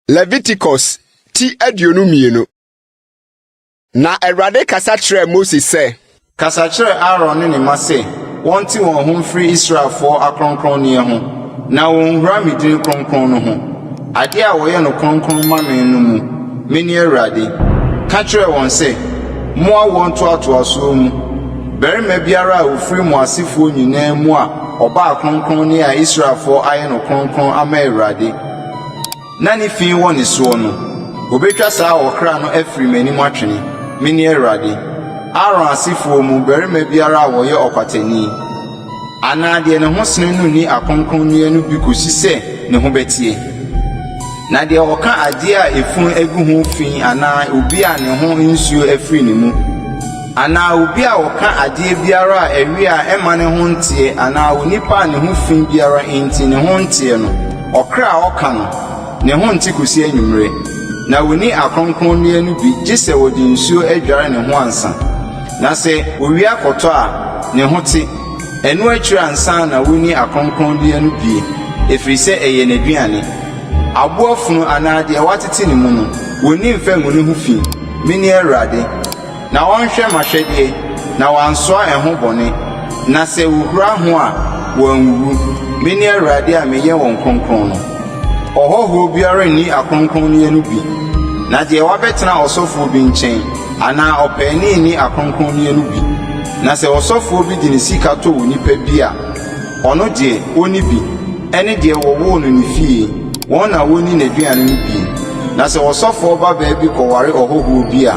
Leviticus ti aduonu mmienu Na Awurade kasa kyerɛɛ Mose sɛ. Kasa kyerɛ Aaron ne ne mma sɛ wɔnte wɔn ho mfiri Israelfoɔ akronkronneɛ ho Na wɔnwura me din kronkron no ho, adeɛ a wɔyɛ no kronkron ma me no mu. Mene Awurade. Ka kyerɛ wɔn sɛ, 'Mo awoɔ ntoatoasoɔ mu, barima biara a ɔfiri mo asefoɔ nyinaa mu a ɔbaa kronkron ne a Israelfoɔ ayɛ no kronkron ama Awurade, Na ne fi wɔ ne soɔ no, wɔbɛtwa saa ɔkra no afiri m'anim atwene. Mene Awurade. Aaron asefoɔ mu barima biara a ɔyɛ ɔkwatani, anaa deɛ ne ho sene no nni akronkronneɛ no bi kɔsi sɛ ne ho bɛteɛ. Na deɛ ɔka adeɛ a efunu agu ho fi anaa obi a ne ho nsuo afiri ne mu, Anaa obi a ɔka adeɛ biara a ɛwe a ɛmma ne ho nteɛ, anaa onipa a ne ho fi biara nti ne ho nteɛ no, ɔkra a ɔka no, ne ho nte kɔsi anwummerɛ. Na ɔnni akronkronneɛ no bi gye sɛ ɔde nsuo adware ne ho ansa. Na sɛ owia kɔtɔ a, ne ho te. Ɛno akyiri ansa na ɔnni akronkronneɛ no bie, ɛfiri sɛ ɛyɛ n'aduane. Aboa funu anaa deɛ wɔatete ne mu no, wɔnni mfa ngu ne ho fi. Mene Awurade. Na wɔnhwɛ m'ahwɛdeɛ, na wɔansoa ɛho bɔne, na sɛ wɔhura ho a, wɔanwuwu. Mene Awurade a meyɛ wɔn kronkron no. Ɔhɔhoɔ biara nni akronkronneɛ no bi, na deɛ wabɛtena ɔsɔfoɔ bi nkyɛn anaa ɔpaani nni akronkronneɛ no bi. Na sɛ ɔsɔfoɔ bi de ne sika tɔ onipa bi a, Ɔno deɛ, ɔnni bi, ɛne deɛ wɔwoo no ne fie, wɔn na wɔnni n'aduane no bi. Na sɛ ɔsɔfoɔ babaa bi kɔware ɔhɔhoɔ bi a,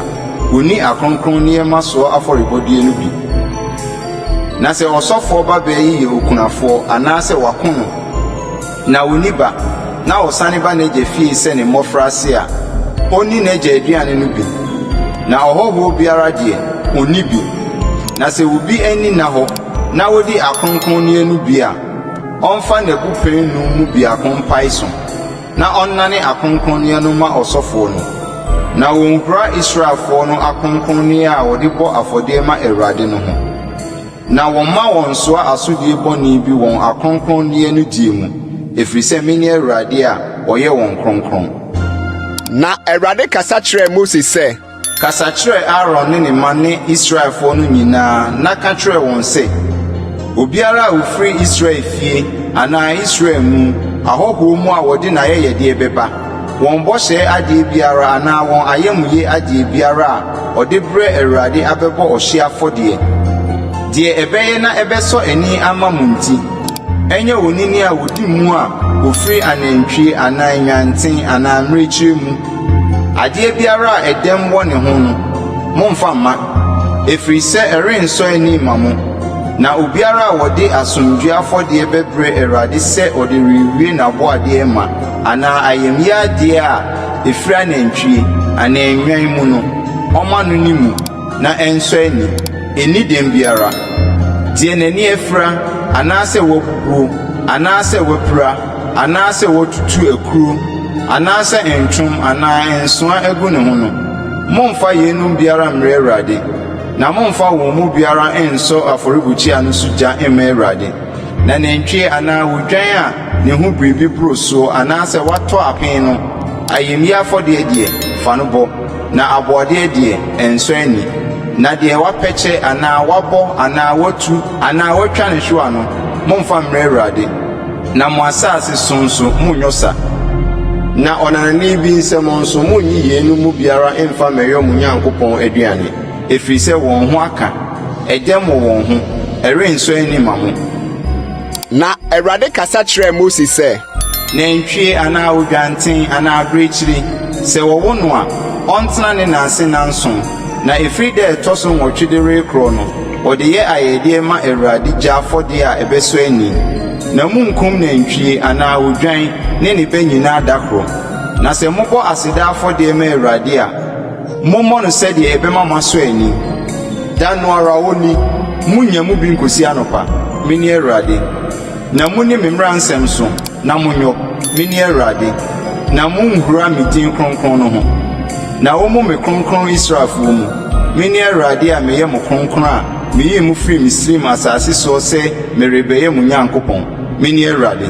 ɔnni akronkron nneɛma soɔ afɔrebɔdeɛ no bi. Na sɛ ɔsɔfoɔ babaa yi yɛ okunafoɔ anaasɛ wɔako no, na ɔnni ba, na ɔsane ba n'agya fie sɛ ne mmɔfraase a, ɔnni n'agya aduane no bi. Na ɔhɔhoɔ biara deɛ, ɔnni bi. Na sɛ obi anni nna hɔ, na wodi akronkronneɛ no bi a, ɔmfa n'abupɛn nnum mu biako mpae so, na ɔnnane akronkronneɛ no mma ɔsɔfoɔ no, na wɔnhura Israelfoɔ no akronkronneɛ a wɔde bɔ afɔdeɛ ma Awurade no ho, na wɔmma wɔnnsoa asodie bɔne bi wɔn akronkronneɛ no die mu, ɛfiri sɛ mene Awurade a ɔyɛ wɔn kronkron. Na Awurade kasa kyerɛɛ Mose sɛ. Kasa kyerɛ Aaron ne ne mma ne Israelfoɔ no nyinaa na ka kyerɛ wɔn sɛ, 'Obiara a ɔfiri Israel fie anaa Israel mu ahɔhoɔ mu a wɔde n'ayɛyɛdeɛ bɛba, wɔn bɔhyɛ adeɛ biara anaa wɔn ayamyɛ adeɛ biara a ɔde brɛ Awurade abɛbɔ ɔhyeɛ afɔdeɛ, deɛ ɛbɛyɛ na ɛbɛsɔ ani ama mo nti, ɛnyɛ onini a ɔdi mu a ɔfiri anantwie anaa nnwanten anaa mmirekyie mu, Adeɛ biara a ɛdɛm wɔ ne ho no, mommfa mma, ɛfiri sɛ ɛrensɔ ani mma mo. Na obiara a ɔde asomdwoeɛ afɔdeɛ bɛbrɛ Awurade sɛ ɔde rewie n'aboadeɛ ma anaa ayamyɛ adeɛ a ɛfiri anantwie anaa nnwan mu no, ɔmma no ne mu na ɛnsɔ ani, ɛnni dɛm biara. Deɛ n'ani afira anaasɛ wabubuo anaasɛ wapira. anaasɛ wɔtutu akuro anaasɛ ntwom anaa nsoa agu ne ho no, mommfa yeinom biara mmrɛ Awurade, na mommfa wɔn mu biara nnsɔ afɔrebukyia no so gya mma Awurade. Na nantwie anaa odwan a ne ho biribi boro soɔ anaasɛ watɔ apen no, ayamyie afɔdeɛ deɛ, fa no bɔ, na aboɔdeɛ deɛ, nsɔ ani. Na deɛ wapɛkyɛ anaa wabɔ anaa watu anaa watwa ne hwewa no, mommfa mmrɛ Awurade. Na mo asase so nso, monnyɔ sa, na ɔnanani bi nsam nso, munnyi yeinom mu biara mmfa mmɛyɔ mo Nyankopɔn aduane, ɛfiri sɛ wɔn ho aka, ɛdɛm wɔ wɔn ho, ɛrensɔ ani mma mo. Na Awurade kasa kyerɛɛ Mose sɛ. Nantwie anaa odwanten anaa abirekyiri, sɛ wɔwo no a, ɔntena ne na ase nnanson, na ɛfiri da a ɛtɔ so nwɔtwe de rekorɔ no, Wɔde yɛ ayɛyɛdeɛ ma Awurade gya afɔdeɛ a ɛbɛsɔ ani. Na monnkum nantwie anaa odwan ne ne ba nyinaa da koro. Na sɛ mobɔ aseda afɔdeɛ ma Awurade a, mommɔ no sɛdeɛ ɛbɛma moasɔ ani. Da no ara onii, monnya mu bi nkɔsi anɔpa. Mene Awurade. Na monni me mmara nsɛm so na monyɔ, mene Awurade, na monhura me din kronkron no ho, na wɔmmu me kronkron Israelfoɔ mu. Mene Awurade a meyɛ mo kronkron a meyii mo firii Misraim asase soɔ sɛ merebɛyɛ mo Nyankopɔn. Mene Awurade.